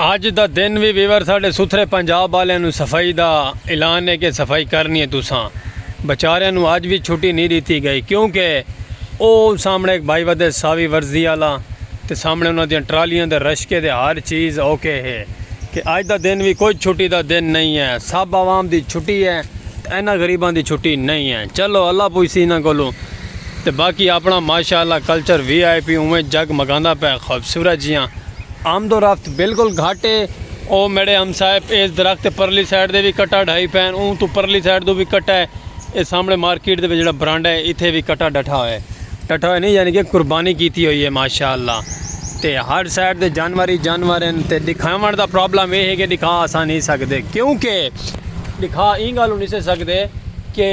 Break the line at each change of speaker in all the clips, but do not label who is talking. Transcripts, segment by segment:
اج دا دن وی ویور ساڈے ستھرے پنجاب والے نو صفائی دا اعلان ہے کہ صفائی کرنی ہے تساں بچارے نو اج وی چھٹی نہیں دیتی گئی کیونکہ او سامنے ایک بھائی ودے ساوی ورزی والا تے سامنے انہاں دی ٹرالیاں دے رشکے دے ہر چیز اوکے ہے کہ اج دا دن وی کوئی چھٹی دا دن نہیں ہے سب عوام دی چھٹی ہے تے انہاں غریباں دی چھٹی نہیں ہے چلو اللہ پوچھسی انہاں کولوں تے باقی اپنا ماشاءاللہ کلچر وی آئی پی اوویں جگ مگاندا پئے خوبصورت جیاں آمد و رفت بالکل گھٹ ہے او میڈے ہمسائے ایس درخت تے پرلی سائیڈ دے وی کٹا ڈھائی پئے ہن اوں توں پرلی سائیڈ توں وی کٹا ہے۔ اے سامنے مارکیٹ دے وچ جیڑا برانڈا ہے ایتھے وی کٹا ڈٹھا ہوئے ڈٹھا ہوئے نہیں یعنی کہ قربانی کیتی ہوئی ہے ماشاءاللہ تے ہر سائڈ دے جانور ہی جانور ہیں تے دکھاون دا پرابلم اے ہے کہ دکھا اساں نہیں سکدے کیونکہ دکھا ایں گالوں نہیں سے سکدے کہ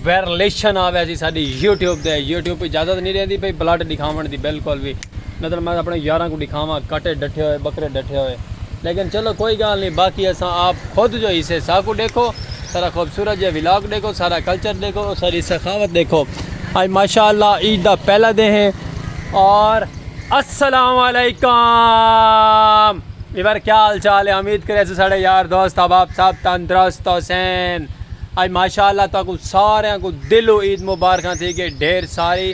ویرلیشن آوے سی ساڈی یوٹیوب دے یوٹیوب اجازت نہیں دیندی بھئی بلڈ دکھاون دی بالکل وی نتن میں اپݨے یاراں کوں ݙکھاواں کٹے ݙٹھے ہوئے ٻکرے ݙٹھے ہوئے لیکن چلو کوئی ڳالھ نی باقی اساں آپ خود جو حصے ساکوں ݙیکھو سارا خوبصورت جیہا ولاگ ݙیکھو سارا کلچر ݙیکھو او ساری سخاوت ݙیکھو اڄ ماشاء اللہ عید دا پہلا دے ہیں اور السلام علیکم ایور کیا حال چال ہے امید کرے سے ساڑے یار دوست احباب صاحب تندرست حسین اج ماشاءاللہ تاکو سارے کو دلو عید مبارکاں تھی گئے ڈھیر ساری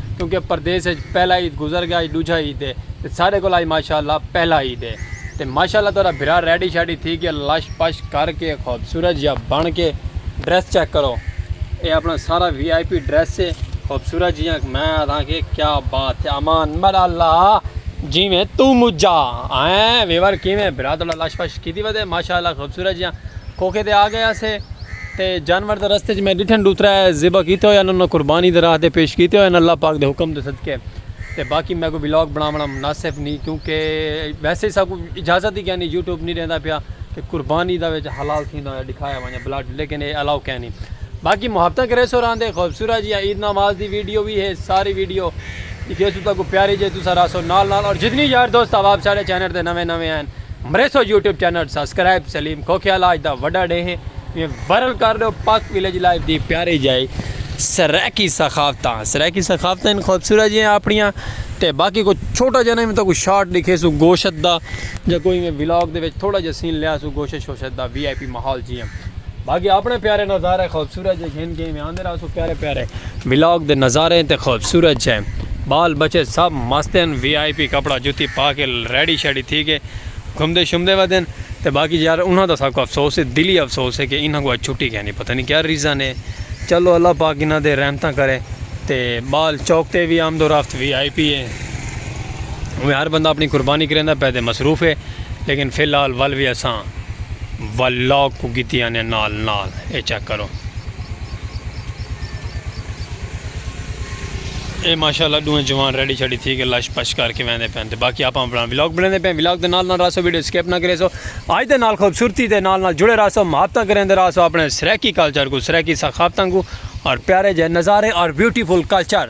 کیونکہ پردیس اچ پہلا عید گزر گیا اج ڈوجھا عید ہے تے سارے کول اج ماشاءاللہ پہلا عید ہے تے ماشاءاللہ تہاڈا بھرا ریڈی شیڈی تھی گیا لش پش کر کے خوبصورت جیا بن کے ڈریس چیک کرو اے اپنا سارا وی آئی پی ڈریس ہے خوبصورت جیا میں آدھاں کہ کیا بات ہے امان مل اللہ جیویں تو مجھا ہیں ویور کیویں بھرا تہاڈا لش پش کیتی ودے ماشاءاللہ خوبصورت جیا کھوکھے تے آ گئے آسے تے جانور تے رستے چ میں ڈٹھن ڈو ترے ذبح کیتے ہوئے انہاں قربانی دے راہ تے پیش کیتے ہوئے اللہ پاک دے حکم دے صدقے تے باقی میکوں ولاگ بناونا مناسب نی کیونکہ ویسے ساکوں اجازت ہی کینی یوٹیوب نی ڈیندا پیا کہ قربانی دا وچ حلال تھیندا ہویا ڈکھایا ونجے بلڈ لیکن اے الاؤ کینی باقی محبتاں کریسو راہندے خوبصورت جیاں عید نماز دی ویڈیو وی ہے ساری ویڈیو دکھیسو تاکوں پیاری جے تساں راہسو نال نال اور جتنی یار دوست احباب ساڈے چینل تے نویں نویں ہن مریسو YouTube channel subscribe Saleem Khokhiyal آج دا وڈا ڈے ہیں یہ ورل کر دو پاک ویلیج لائف دی پیاری جائے سرائیکی ثقافتاں سرائیکی ثقافتاں ان خوبصورت جی ہیں اپنیاں تے باقی کو چھوٹا جانا میں تو کوئی شارٹ دکھے سو گوشت دا یا کوئی میں ولاگ دے وچ تھوڑا جا سین لیا سو گوشت شوشت دا وی آئی پی ماحول جی ہیں باقی اپنے پیارے نظارے خوبصورت جے گھن گئے میں آندے رہا سو پیارے پیارے ولاگ دے نظارے تے خوبصورت جے بال بچے سب مستین وی آئی پی کپڑا جوتی پا کے ریڈی شیڈی تھی کے گھمدے شمدے ودین تے باقی یار انہاں دا سب کو افسوس ہے دلی افسوس ہے کہ انہاں کو چھٹی کہنی پتہ نہیں کیا ریزن ہے چلو اللہ پاک انہاں دے رحمتاں کرے تے بال چوک تے وی آمد و رفت وی آئی پی ہے وہ ہر بندہ اپنی قربانی کریندا پہ تے مصروف ہے لیکن فی الحال ول وی اساں ول لاگ کوں کیتی آنیاں نال نال اے چیک کرو اے ماشاءاللہ ڈوہیں جوان ریڈی چھڑی تھی کے لش پش کر کے ویندے پین تے باقی آپاں اپنا ولاگ بنیندے پین ولاگ دے نال نال راسو ویڈیو سکپ نہ کریسو آج دے نال خوبصورتی دے نال نال جڑے راسو محبتاں کریندے راسو اپنے سریکی کلچر کو سریکی ثقافتاں کو اور پیارے جے نظارے اور بیوٹیفل کلچر۔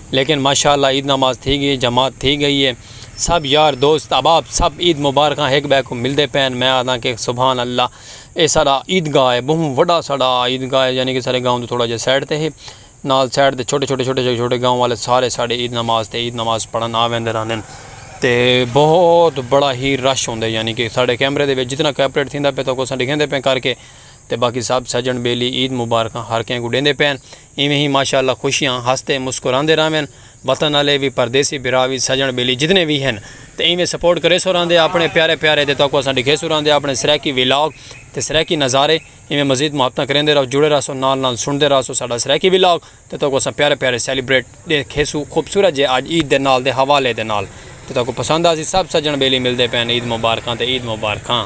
لیکن ماشاء اللہ عید نماز تھی گئی جماعت تھی گئی ہے سب یار دوست احباب سب عید مبارکاں ہک بے کو ملدے پین میں آدھا کہ سبحان اللہ اے سارا عید گاہ ہے بہوں وڈا سارا عید گاہ ہے یعنی کہ سارے گاؤں تو تھوڑا جہا سائڈ تے ہے نال سائڈ تے چھوٹے چھوٹے چھوٹے چھوٹے گاؤں والے سارے سارے عید نماز تے عید نماز پڑھن آ ویندے رہندے تے بہت بڑا ہی رش ہوندے یعنی کہ سارے کیمرے دے وچ جتنا کیپریٹ تھیندا پہ تو کو سا ڈگھیندے پہ کر کے تے باقی سب سجن بیلی عید مبارکاں ہر کہیں کو ڈیندے پین ایویں ہی ماشاء اللہ خوشیاں ہسدے مسکراندے رہون وطن آلے وی پردیسی بھرا وی سجن بیلی جتنے وی ہن تے ایویں سپورٹ کریسو راہندے آپنے پیارے پیارے تے تہاکوں اساں ڈکھیسوں راہندے آپنے سرائیکی ویلاگ تے سرائیکی نظارے ایویں مزید محبتاں کریندے رہو جڑے راہسو نال نال سنڑدے راہسو ساڈا سرائیکی ویلاگ تے تہاکوں اساں پیارے پیارے سیلیبریٹ ڈیکھیسو خوبصورت جے اج عید دے نال دے حوالے دے نال تے تہاکوں پسند آسی سب سجن بیلی ملدے پئے ہن عید مبارکاں تے عید مبارکاں۔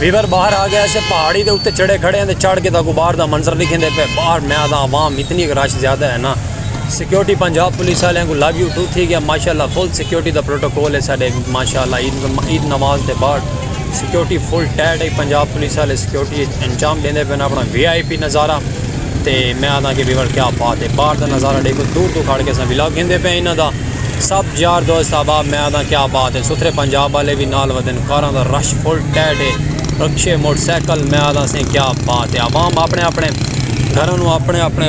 ویور باہر آ گیا اسے پہاڑی دے اتے چڑھے کھڑے ہیں چڑھ کے تاکو باہر دا منظر دکھیں دے پہ باہر میں آدھا عوام اتنی رش زیادہ ہے نا سیکیورٹی پنجاب پولیس والے ہیں کو لو یو ٹو تھی گیا ماشاءاللہ فل سیکیورٹی دا پروٹوکول ہے ساڈے ماشاءاللہ عید نماز دے بعد سیکیورٹی فل ٹائٹ ہے پنجاب پولیس والے سیکیورٹی انجام دیں دے پہ اپنا وی آئی پی نظارہ تے میں آدھا کہ بیور کیا بات ہے باہر دا نظارہ دیکھو دور دور کھڑ کے سا ولاگ گھن دے پہ انہاں دا سب یار دوست احباب میں آدھاں کیا بات ہے ستھرے پنجاب والے بھی نال ودن کاراں دا رش فل ٹیٹ ہے رکشے موٹر سائیکل میں آدھاں سیں کیا بات ہے عوام اپنے اپنے گھراں نو اپنے اپنے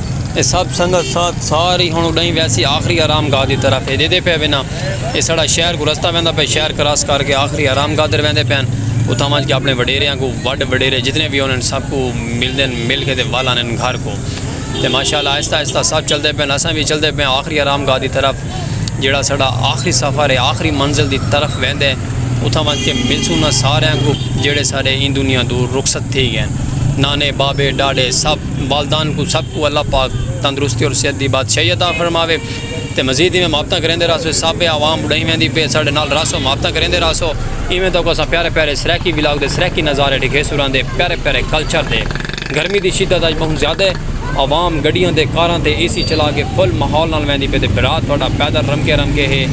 اے سب سنگت ساتھ ساری ہن اڈائیں ویسی آخری آرام گاہ دی طرف ہے دیدے پہ وینا اے سڑا شہر کو رستہ ویندا پہ شہر کراس کر کے آخری آرام گاہ در ویندے پین اتھاں وانج کے اپنے وڈیریاں کو وڈ وڈیرے جتنے بھی انہیں سب کو مل دین مل کے دے وال آنین گھر کو تے ماشاءاللہ آہستہ آہستہ سب چل دے پین اساں بھی چل دے پین آخری آرام گاہ دی طرف جیڑا سڑا آخری سفر ہے آخری منزل دی طرف ویندے اتھاں وانج کے مل سونا سارے کو جیڑے سارے این دنیا دور رخصت تھی گین نانے بابے ڈاڑے سب والدان کوں سب کوں اللہ پاک تندرستی اور صحت دی بادشاہی عطا فرماوے تے مزید ایویں محبتاں کریندے رہسو سابے عوام بڑھائی ویندی پئی ساڈے نال رہسو محبتاں کریندے رہسو ایویں تہاکوں اساں پیارے پیارے سرائیکی ولاگ دے سرائیکی نظارے ڈکھیسوں رہندے پیارے پیارے کلچر دے گرمی دی شدت اج بہوں زیادہ ہے عوام گڈیاں تے کاراں تے اے سی چلا کے فل ماحول نال ویندی پئی تے بھرا تہاڈا پیدل رمکے رمکے ہے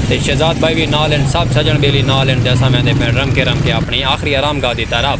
تے شہزاد بھائی وی نال ہن سب سجن بیلی نال ہن تے اساں ویندے پئے رمکے رمکے اپنی آخری آرام گاہ دی طرف۔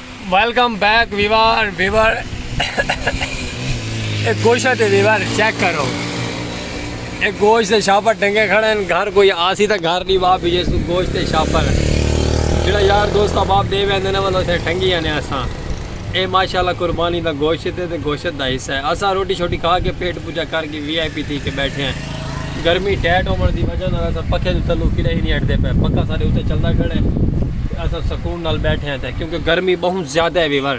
ویلکم بیک ویوار ویوار ایک گوشہ دے ویوار چیک کرو ایک گوش دے شاپر ڈنگے کھڑے ہیں گھر کوئی آسی تا گھر نہیں باپ یہ سو گوش دے شاپر جڑا یار دوست باپ دے ویندے نے والو سے ٹھنگی ہیں اساں اے ماشاءاللہ قربانی دا گوشت ہے تے گوشت دا حصہ ہے اساں روٹی چھوٹی کھا کے پیٹ پوجا کر کے وی آئی پی تھی کے بیٹھے ہیں گرمی ٹیٹ ہومن دی وجہ نال اساں پکھے دے تلو کڈے ہی نہیں ہٹدے پے پکھا سارے اتے چلدا کھڑے اساں سکون نال بیٹھے ہیں کیونکہ گرمی بہت زیادہ ہے ویور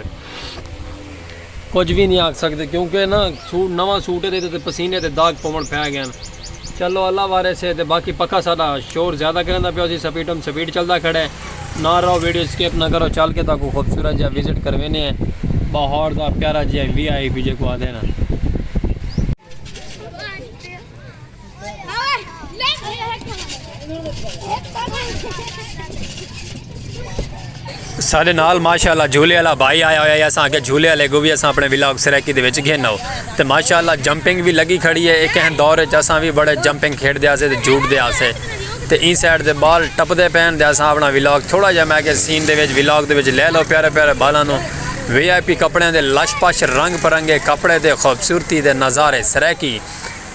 کچھ بھی نہیں آکھ سکتے کیونکہ نا سوٹ نواں سوٹ دے تے پسینے تے داغ پون پھے گئے ہیں چلو اللہ وارے سے تے باقی پکھا سارا شور زیادہ کریں دا پیو سی سپیڈ ہم سپیڈ چلدا کھڑے نہ رہو ویڈیو سکپ نہ کرو چل کے تا کو خوبصورت جا وزٹ کروینے ہیں باہر دا پیارا جی وی آئی پی جے کو آدھے نا سارے نال ماشاءاللہ جھولے والا بھائی آیا ہویا ہے اساں کہ جھولے والے کو بھی اساں اپنے ولاگ سرائیکی دے وچ گھن ہو تے ماشاءاللہ جمپنگ بھی لگی کھڑی ہے ایک ہن دور وچ اساں بھی بڑے جمپنگ کھیڈ دے اسے تے جھوٹ دے اسے تے این سائیڈ دے بال ٹپ دے پین دے اساں اپنا ولاگ تھوڑا جا میں کہ سین دے وچ ولاگ دے وچ لے لو پیارے پیارے بالاں نو وی آئی پی کپڑیاں دے لش پش رنگ برنگے کپڑے تے خوبصورتی دے نظارے سرائیکی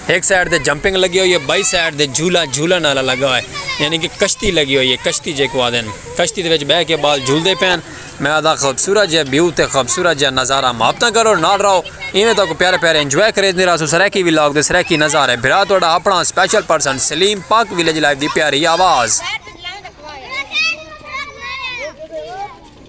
ہک سائیڈ تے جمپنگ لگی ہوئی ہے بائی سائیڈ تے جھولا جھولن والا لگا ہوئے یعنی کہ کشتی لگی ہوئی ہے کشتی جیکو آدن کشتی دے وچ بہ کے بال جھولدے پین میں آدھا خوبصورت جے بیو تے خوبصورت جے نظارہ محبتاں کرو نال رہو ایویں تو کو پیارے پیارے انجوائے کرے دے رہا سو سرائیکی وی لاگ دے سرائیکی نظارے بھرا توڑا اپنا special person Saleem Pak village life دی پیاری آواز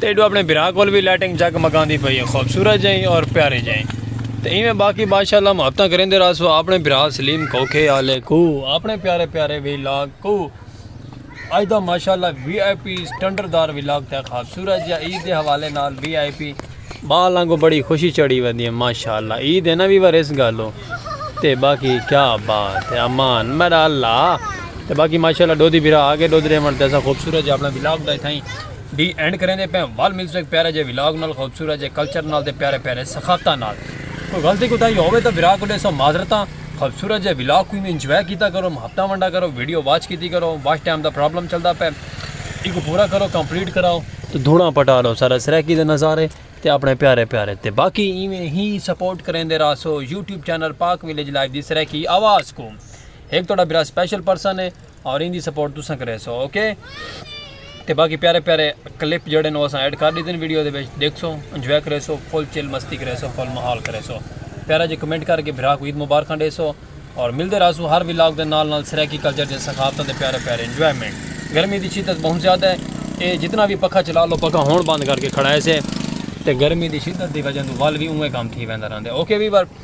تے ایڈو اپنے بھرا کول وی لائٹنگ جگ مگاندی پئی ہے خوبصورت جئیں اور پیاری جئیں تے ایویں باقی بادشاہ اللہ محبتاں کریندے رہسو اپنے بھرا سلیم کھوکھے آلے کو اپنے پیارے پیارے وی لاگ کو اج دا ماشاءاللہ وی آئی پی سٹنڈر دار وی لاگ تے خوبصورت جا عید دے حوالے نال وی آئی پی بال آنگو بڑی خوشی چڑھی ودی ہے ماشاءاللہ عید ہے نا وی ور اس گالو تے باقی کیا بات ہے امان میرا اللہ تے باقی ماشاءاللہ ڈودی بھرا آگے ڈودرے من تے ایسا خوبصورت جا اپنا وی لاگ دا تھائیں دی اینڈ کریندے پیاں ول ملسوں ایک پیارے جے ولاگ نال خوبصورت جے کلچر نال تے پیارے پیارے ثقافتاں نال کوئی غلطی کوتاہی ہووے تاں بھرا کولے سو معذرتاں خوبصورت جے ولاگ کوں ایویں انجوائے کیتا کرو محبتاں ونڈا کرو ویڈیو واچ کیتی کرو واچ ٹائم دا پرابلم چلدا پے ایکوں پورا کرو کمپلیٹ کراؤ تے دھوڑاں پٹا لو سارے سرائیکی دے نظارے تے اپنے پیارے پیارے تے باقی ایویں ہی سپورٹ کریندے راسو YouTube channel Pak village life دی سرائیکی آواز کو ایک تھوڑا بھرا سپیشل پرسن ہے اور ایندی سپورٹ تساں کرے سو اوکے تے باقی پیارے پیارے کلپ جڑے نو اساں ایڈ کر دیتے ہیں ویڈیو دے بیچ دیکھ سو انجوائے کرے سو فل چل مستی کرے سو فل محال کرے سو پیارا جی کمنٹ کر کے بھرا کو عید مبارک ہنڈے سو اور مل دے راسو ہر ویلاگ دے نال نال سریکی کلچر دے سخافتہ دے پیارے پیارے انجوائمنٹ گرمی دی شدت بہن زیادہ ہے اے جتنا بھی پکھا چلا لو پکھا ہون بند کر کے کھڑا ہے سے تے گرمی دی شدت دی وجہ دو وال بھی اوہ کام تھی ویندہ رہن دے اوکے بھی بار